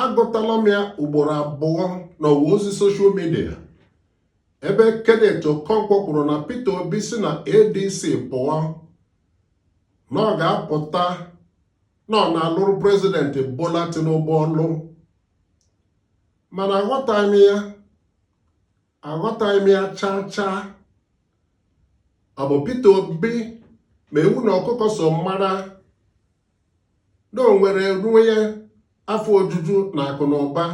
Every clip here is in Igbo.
agụtala m ya ugboro abụọ n'ọwa ozi soshal midia ebe Kenneth Okonkwo kwuru na Peter Obi si na ADC pụọ na ọ ga-apụta na ọ na-alụrụ prezidenti Bola Tinubu ọlụ mana aghọtaghị m ya aghọtaghị m ya chaa chaa ọ bụ Peter Obi ma ewu na ọkụkọ so mara na o nwere ruo ya afọ ojuju na akụ na ụba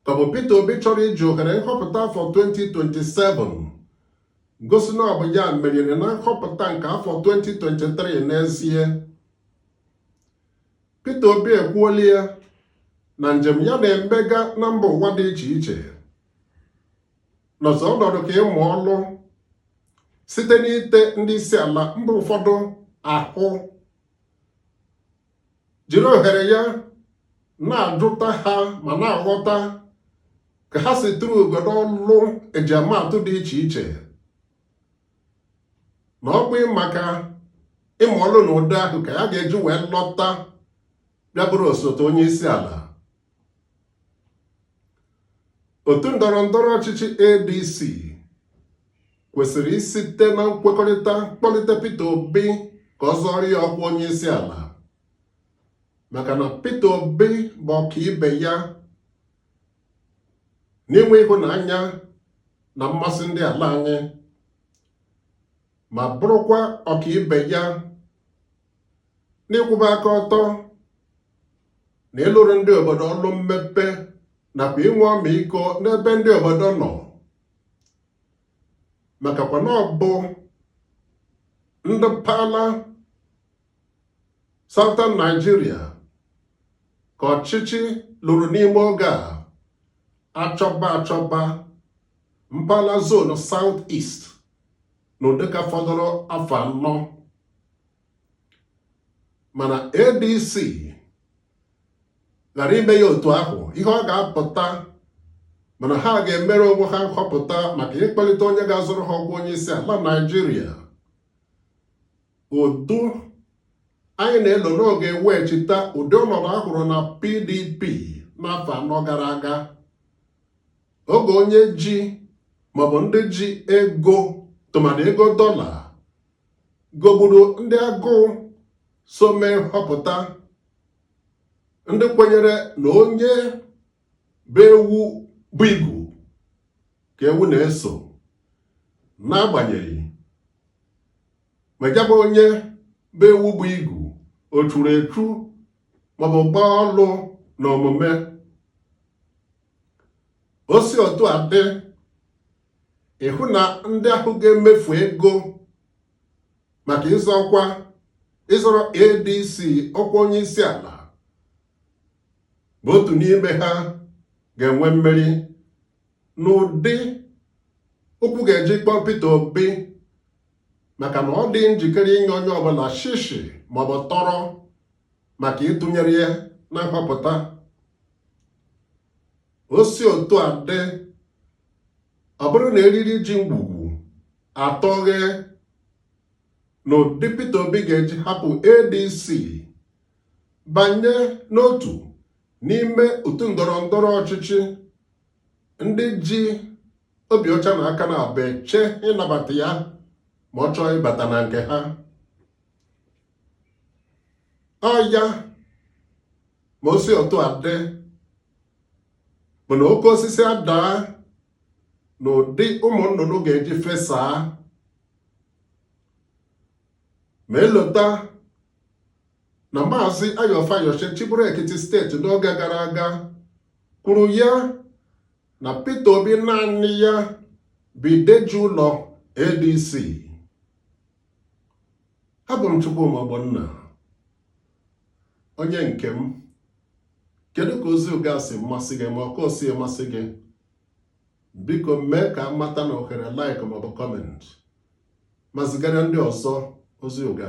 ka ọ bụ Peter Obi chọrọ iji ohere nhọpụta afọ 2027 gosi na ọ bụ ya meriri na nhọpụta nke afọ 2023 n'ezie Peter Obi ekwuola ya na njem ya na-emega na mba ụwa dị iche iche nọzọ ọnọdụ ka ịmụ ọlụ site n'ite ndị isi ala mba ụfọdụ ahụ jiri ohere ya na-ajụta ha ma na-aghọta ka ha si lụrụ obodo ọlụ e ji ama atụ dị iche iche na ọ bụ maka ịmụ ọlụ na ụdị ahụ ka ya ga-eji wee lọta bịa bụrụ osote onye isi ala otu ndọrọ ndọrọ ọchịchị ADC kwesịrị isite na nkwekọrịta kpọlite Peter Obi ka ọ zọrọ ya ọkwa onye isi ala maka na Peter Obi bụ ọkaibe ya n'inwe ịhụnanya na mmasị ndị ala anyị ma bụrụkwa ọkaibe ya n'ịkwụba aka ọtọ na ịlụrụ ndị obodo ọrụ mmepe nakwa inwe ọmịiko n'ebe ndị obodo nọ makakwa na ọ bụ ndị mpaghara Southern Nigeria ka ọchịchị ruru n'ime oge a achọba achọba mpaghara zonu South East na ụdịka fọdụrụ afọ anọ mana ADC ghara ime ya otu ahụ ihe ọ ga-apụta bụ na ha ga-emere onwe ha nhọpụta maka ịkpọlite onye ga-azọrọ ha ọkwa onye isi ala Naịjirịa otu anyị na-elo na ọ ga-eweghachita ụdị ọnọdụ a hụrụ na PDP n'afọ anọ gara aga oge onye ji ma ọ bụ ndị ji ego tụmadị ego dọla gogburu ndị agụụ so mee nhọpụta ndị kwenyere na onye bu ewu bu igu ka ewu na-eso n'agbanyeghị ma ya bụ onye bu ewu bu igu o churu echu maọbụ gbaa ọlụ na omume o si otu a dị ịhụ na ndị ahụ ga-emefu ego maka ịzọ ọkwa ịzọrọ ADC ọkwa onye isi ala bụ otu n'ime ha ga-enwe mmeri n'ụdị ụkwụ ga-eji kpọọ Peter Obi maka na ọ dịghị njikere inye onye ọbụla shishi maọbụ tọrọ maka ịtụnyere ya na mgbapụta o si otu a dị ọ bụrụ na eriri ji ngwugwu atọghe na ụdị Peter Obi ga-eji hapụ ADC banye n'otu n'ime otu ndọrọ ndọrọ ọchịchị ndị ji obi ọcha na aka naabọ eche ịnabata ya ma ọ chọọ ịbata na nke ha ọ ya ma o si otu a dị bụ na oke osisi adaa na ụdị ụmụ nnụnụ ga-eji fesaa ma e lota na maazị Ayo Fayose chịbụrụ Ekiti steeti n'oge gara aga kwuru ya na Peter Obi naanị ya bụ ide ji ụlọ ADC abụ m Chukwuma Ogbonna onye nke m kedu ka ozi ụga si masị gị ma ọ ka o si masị gị biko mee ka m mata n'ohere like maọbụ comment ma zigara ndị ọzọ ozi ụga